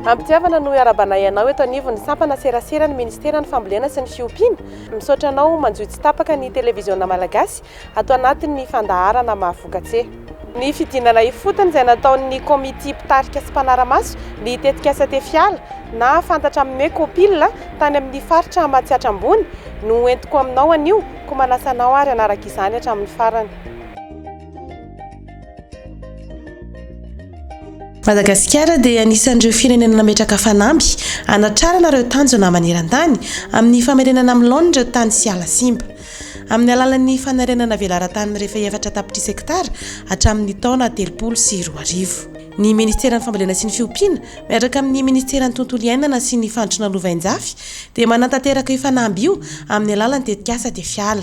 Am-pitiavana no iarabanay anao eto anivon'ny sampana seraseran'ny Ministeran'ny Fambolena sy ny Fiompiana. Misaotra anao manjohy tsy tapaka ny Televiziona Malagasy ato anatin'ny fandaharana mahavokatse. Ny fidinana ifotony izay nataon'ny Komitia Mpitarika sy Mpanara-maso ny tetikasa Tefiala na fantatra amin'ny hoe Copil tany amin'ny Faritra Matsiatra Ambony no ho entiko aminao anio koa manasa anao ary hanaraka izany hatramin'ny farany. Madagasikara dia anisan'ireo firenena nametraka fanamby hanatrarana ireo tanjona maneran-tany amin'ny famerenana amin'ny laoniny ireo tany sy ala simba. Amin'ny alalan'ny fanarenana velaran-tany mirefy efatra tapitrisa hektara hatramin'ny taona telopolo sy roa arivo, ny minisiteran'ny Fambolena sy ny Fiompiana miaraka amin'ny minisiteran'ny Tontolo iainana sy ny Fandrosoana Lovainjafy dia manatanteraka io fanamby io amin'ny alalan'ny tetikasa Tefiala.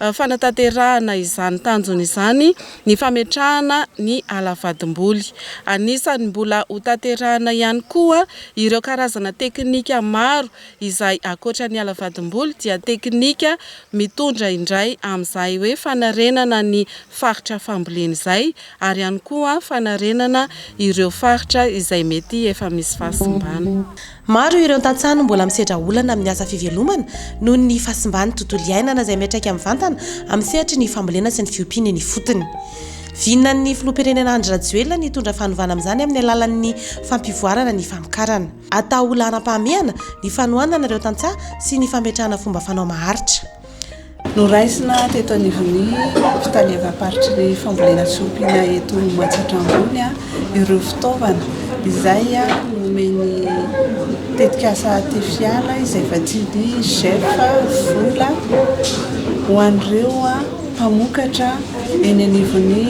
fanatanterahana izany tanjona izany ny fametrahana ny ala vadim-boly. Anisan'ny mbola hotanterahina ihany koa ireo karazana teknika maro izay ankoatra ny ala vadim-boly dia teknika mitondra indray amin'izay hoe fanarenana ny faritra fambolena izay ary ihany koa fanarenana ireo faritra izay mety efa misy fahasimbana. Maro ireo tantsaha no mbola misedra olana amin'ny asa fivelomana noho ny fahasimban'ny tontolo iainana izay miantraika mivantana amin'ny sehatry ny fambolena sy ny fiompiana eny ifotony. Vinan'ny Filoham-pirenena Andry Rajoelina ny hitondra fanovana amin'izany amin'ny alalan'ny fampivoarana ny famokarana. Atao laharam-pahamehana ny fanohanana ireo tantsaha sy ny fametrahana fomba fanao maharitra. Noraisina teto anivon'ny fitaleavam-paritry ny fambolena tsy ompiana eto Matsiatra Ambony ireo fitaovana izay nomen'ny tetikasa Tefiala izay vatsian'ny GEF vola ho an'ireo mpamokatra eny anivon'ny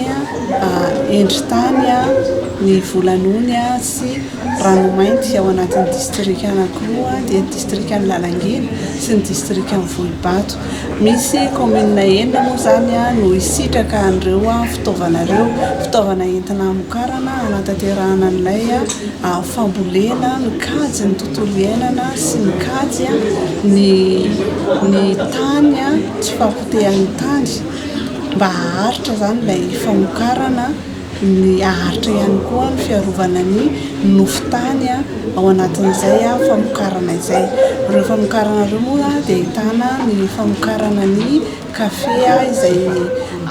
endritany ny vola nony sy Ranomainty ao anatin'ny distrikan'Ankoho dia ny distrikan'i Lalangina sy ny distrikan'i Volobato. Misy kaominina enina moa izany no hisitraka an'ireo fitaovana ireo, fitaovana entina hamokarana, hanatanterahana an'ilay fambolena, mikajy ny tontolo iainana sy mikajy ny tany tsy fahapotehan'ny tany mba haharitra izany ilay famokarana. Ny haharitra ihany koa ny fiarovana ny nofo tany ao anatin'izay famokarana izay. Ireo famokarana ireo moa dia ahitana ny famokarana ny kafe izay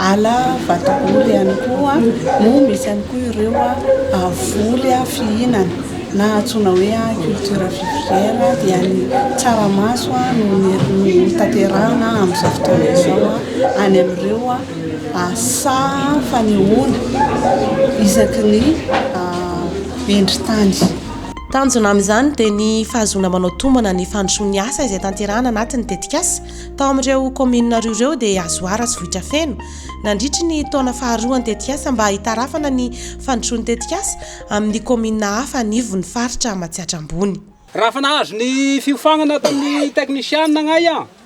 ala vatobory ihany koa no misy ihany koa ireo voly fihinana na antsoina hoe culture vivrière dia ny tsaramaso no notanterahina amin'izao fotoana izao any amin'ireo Asa fanehoana isaky ny vendri-tany. Tanjona amin'izany dia ny fahazoana manao tombana ny fandrosoan'ny asa izay tanterahana anaty ny tetikasa tao amin'ireo kaominina roa ireo dia Azoara sy Vohitrafeno nandritry ny taona faharoa ny tetikasa mba hitarafana ny fandrosoan'ny tetikasa amin'ny kaominina hafa anivon'ny faritra Matsiatra Ambony. Raha efa nahazo ny fiofanana tamin'ny teknisianina agnay an!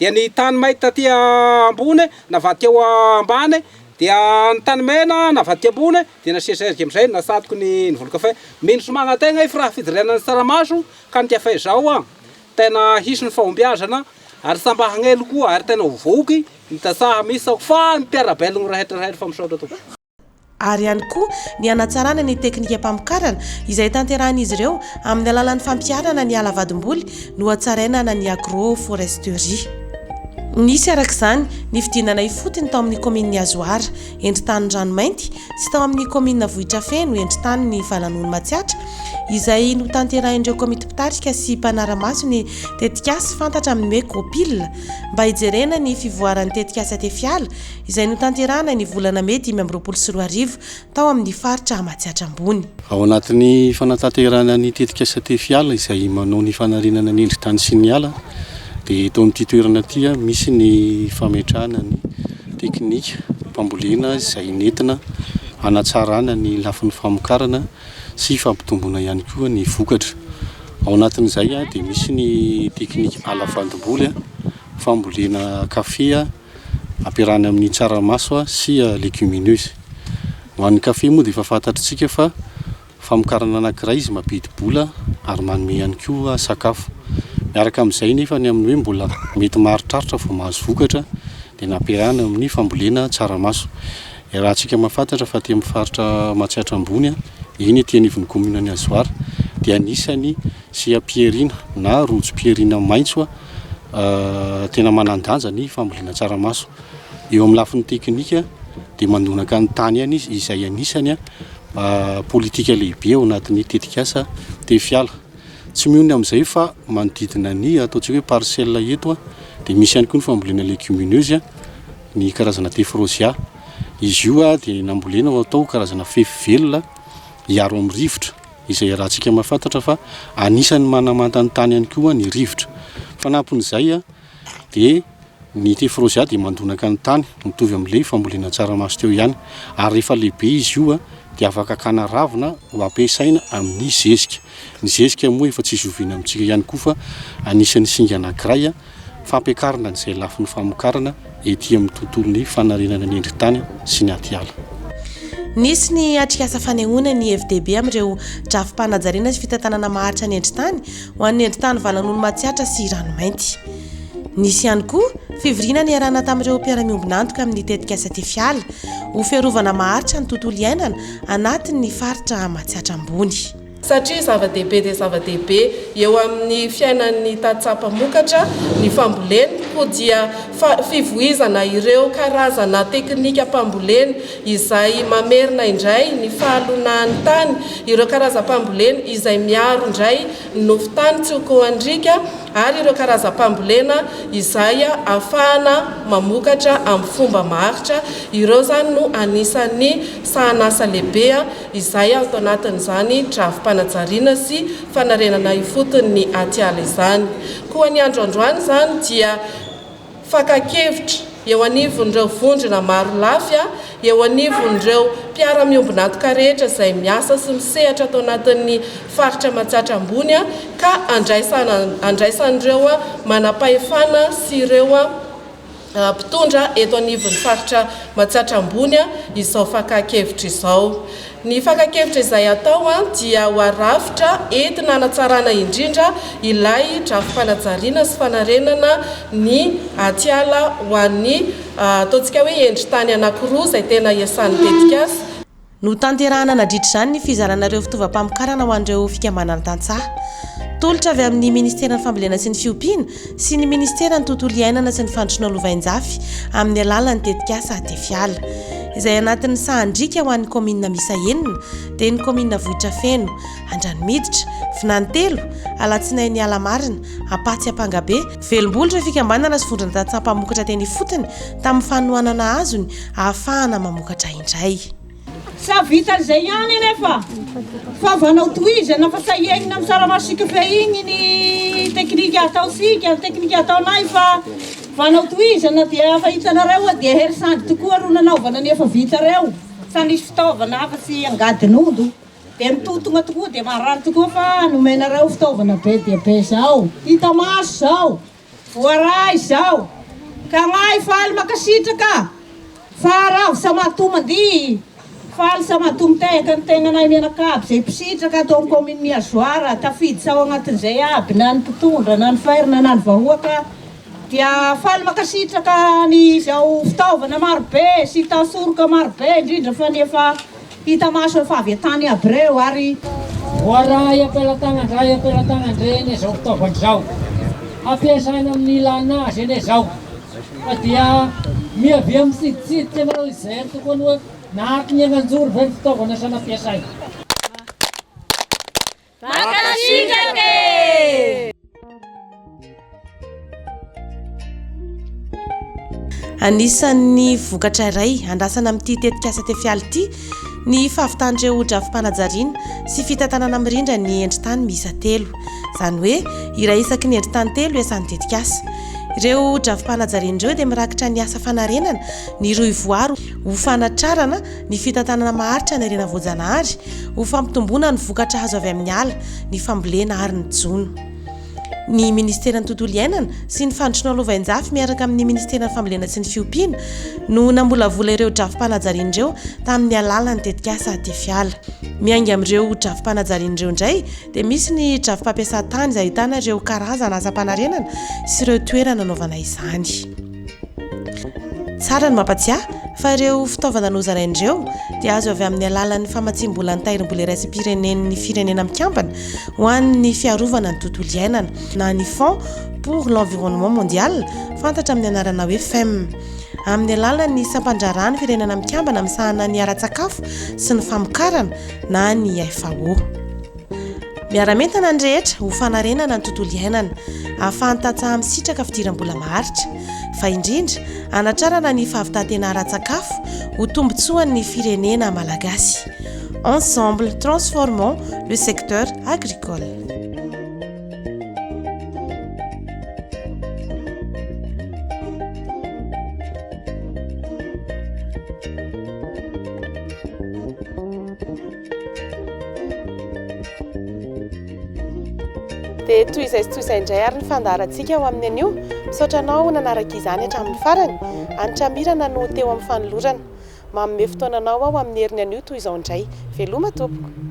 Dia ny tany may taty ambony navadika ho ambany, dia ny tany mena navadika ambony, dia nasian'i Serge amin'izay natsatoky ny volon-kafe. Mino sy magnan-tegna i Firaha Fidirena ny tsaramaso ka ny kafe izao an! Tegna hisy ny fahombiazana ary samy mba hagnelo koa ary tegna ho voky ny tantsaha misy sao fa ny mpiara-belogno rehetra rehetra fa misaotra tompoko. ary ihany koa ny hanatsarana ny teknikam-pamokarana izay tanterahin'izy ireo amin'ny alalan'ny fampiharana ny ala vadim-boly nohatsarainana ny agro-foresterie. Nisy araka izany ny fidinana ifotony tao amin'ny kaominin'i Azoara, endri-tany Ranomainty, sy tao amin'ny kaominina Vohitrafeno, endri-taniny Valanony Matsiatra, izay notanterahin'ireo komity mpitarika sy mpanara-maso ny tetikasa fantatra amin'ny hoe Copil, mba hijerena ny fivoaran'ny tetikasa Tefiala, izay notanterahana ny volana mey dimy amby roapolo sy roa arivo tao amin'ny faritra Matsiatra Ambony. Ao anatin'ny fanatanterahana ny tetikasa Tefy ala izay manao ny fanarenana ny endri-tany sy ny ala dia eto amin'ity toerana ity misy ny fametrahana ny teknika fambolena izay nentina hanatsarana ny lafiny famokarana sy fampitomboana ihany koa ny vokatra. Ao anatin'izay dia misy ny teknika ala fandomboly, fambolena kafe. Ampiarahana amin'ny tsaramaso sy legumineuses. Ho an'ny kafe moa dia efa fantatr'tsika fa famokarana anankiray izy mampidi-bola ary manome ihany koa sakafo. Miaraka amin'izay nefa ny amin'ny hoe mbola mety maharitraritra vao mahazo vokatra dia nampiarahana amin'ny fambolena tsaramaso. Iarahantsika mahafantatra fa aty amin'ny faritra Matsiatra Ambony, eny aty anivon'ny kaominin'i Azoara dia anisan'ny seha-pihariana na rojo-pihariana maitso Tena manan-danja ny fambolena tsaramaso. Eo amin'ny lafiny teknika dia manonaka ny tany ihany izy izay anisany politika lehibe ao anatin'ny tetikasa Tefiala. Tsy mihono amin'izay fa manodidina ny ataontsika hoe parcelle eto dia misy ihany koa ny fambolena legumineuse, ny karazana tephrosia. Izy io dia nambolena ho atao karazana fefy velona hiaro amin'ny rivotra. izay iarahantsika mahafantatra fa anisan'ny manamanta ny tany ihany koa ny rivotra. Fanampin'izay dia ny tephrosia dia mandonaka ny tany, mitovy amin'ilay fambolena tsaramaso teo ihany, ary rehefa lehibe izy io dia afaka hakana ravina ho ampiasaina amin'ny zezika. Ny zezika moa efa tsy zoviana amintsika ihany koa fa anisan'ny singa anankiray. fampiakarana izay lafiny famokarana ety amin'ny tontolon'ny fanarenana ny endri-tany sy ny atiala. Nisy ny atrikasa fanehoana ny hevi-dehibe amin'ireo drafi-panajariana sy fitantanana maharitra ny endri-tany ho an'ny endri-tany valan'olo matsiatra sy ranomainty. Nisy ihany koa fivoriana niarahana tamin'ireo mpiara-miombon'antoka amin'ny tetikasa Tefiala ho fiarovana maharitra ny tontolo iainana anatin'ny faritra matsiatra ambony. satria zava-dehibe dia zava-dehibe eo amin'ny fiainan'ny tantsaha mpamokatra ny fambolena, koa dia fivoizana ireo karazana teknikam-pambolena izay mamerina indray ny fahalonahan'ny tany, ireo karazam-pambolena izay miaro indray ny nofon-tany tsy ho kohan-driaka ary ireo karazam-pambolena izay ahafahana mamokatra amin'ny fomba maharitra, ireo izany no anisan'ny sahanasa lehibe. izay ato anatin'izany drafi-panajariana sy fanarenana ifotony ny atiala izany. Koa ny andro androany izany dia fakan-kevitra eo anivon'ireo vondrona maro lafy, eo anivon'ireo mpiara-miombon'antoka rehetra izay miasa sy misehatra ato anatin'ny faritra Matsatra Ambony ka andraisan'ireo manam-pahefana sy ireo mpitondra eto anivon'ny faritra Matsiatra Ambony izao fakan-kevitra izao. Ny fakan-kevitra izay atao dia ho arafitra entina hanatsarana indrindra ilay drafi-panajariana sy fanarenana ny atiala ho an'ny ataontsika hoe endri-tany anankiroa izay tena iasan'ny tetikasa, Notanterahina nadritra izany ny fizarana ireo fitaovam-pamokarana ho an'ireo fikambanana tantsaha. Tolotra avy amin'ny Ministeran'ny Fambolena sy ny Fiompiana sy ny Ministeran'ny Tontolo Iainana sy ny Fandrosoana lovainjafy amin'ny alalan'ny tetikasa Atefiala, izay anatin'ny sahan-driaka ho an'ny kaominina miisa enina dia ny kaominina Vohitrafeno, Andranomiditra, Vinanitelo, Alatsinainy Alamarina, Ampatsy Ampangabe, Velom-bolo ireo fikambanana sy vondron-tantsaha mpamokatra teny ifotony tamin'ny fanohanana azony ahafahana mamokatra indray. Tsy hahavitan'izay ihany anefa fa vanao tohizana fa tahianina amin'ny tsaramaso igny ny teknika ataontsika, ny teknika ataonay fa vanao tohizana dia fa hitanareo hoe dia hery sady tokoa ro nanaovana ny efa vita reo fa misy fitaovana afa-tsy angadin'omby. Dia ny tontona tokoa dia marary tokoa fa nomenareo fitaovana be dia be izao, hita maso izao, voaray izao, ka ngahy faly mankasitraka fa ravo samatoa mandihy, faly samatoa mitehaka ny tenanay mianakavy izay mpisitraka ato amin'ny kaominina Mihazoara, tafiditra ao anatin'izay aby na ny mpitondra na ny ferme na ny vahoaka, dia faly mankasitraka an'izao fitaovana marobe sy tansoroka marobe indrindra fa ny efa Hita maso eo fa avy tany Hebreo ary. Voaray am-pelatànan-dray am-pelatànan-dre anie zao fitaovana zao. Ampiasaina amin'ny ilàna azy anie zao. Fa dia miavia mitsiditsidika anao izy zay antoko anie hoe nahatonengan-joro ve ny fitaovana sa nampiasaina. Mankasitraka e! Anisan'ny vokatra iray andrasana amin'ity tetikasa Tefiala ity ny fahavitan'ireo drafi-panajariana sy fitantanana mirindra ny endri-tany miisa telo. Izany hoe iray isaky ny endri-tany telo iasan'ny tetikasa. Ireo drafi-panajariana ireo dia mirakitra ny asa fanarenana ny rohivoary ho fanatrarana ny fitantanana maharitra ny harena voajanahary, ho fampitomboana ny vokatra azo avy amin'ny ala, ny fambolena ary ny jono. Ny Ministeran'ny Tontolo iainana sy ny Fanondrosoana Lovainjafy miaraka amin'ny Ministeran'ny Fambolena sy ny Fiompiana no namolavola ireo drafi-panajariana ireo tamin'ny alalan'ny tetikasa Atefy Ala. Miainga amin'ireo drafi-panajariana ireo indray dia misy ny drafi-pampiasan-tany izay ahitana ireo karazana asam-panarenana sy ireo toerana anaovana izany. Tsara ny mampatsiahy fa ireo fitaovana nozaraina ireo dia azo avy amin'ny alalan'ny famatsiam-bola an-tahirimbola iraisam-pirenen'ny Firenena Mikambana ho an'ny Fiarovana ny Tontolo Iainana na ny Fonds pour l'Environnement Mondial, fantatra amin'ny anarana hoe FEM, amin'ny alalan'ny Sampan-draharahan'ny Firenena Mikambana misahana ny Ara-tsakafo sy ny Famokarana na ny FAO. Miara-mientana ny rehetra ho fanarenana ny tontolo iainana, ahafahan'ny tantsaha misitraka fidiram-bola maharitra, fa indrindra hanatrarana ny fahavitan-tena ara-tsakafo ho tombontsoan'ny firenena malagasy. Ensemble, transformons le secteur agricole. Dia toy izay sy toy izay indray ary ny fandaharantsika ho amin'ny anio. Misaotra anao nanaraka izany hatramin'ny farany. Antramirana no ho teo amin'ny fanolorana. Manome fotoananao aho amin'ny herin'ny anio toy izao indray. Veloma tompoko.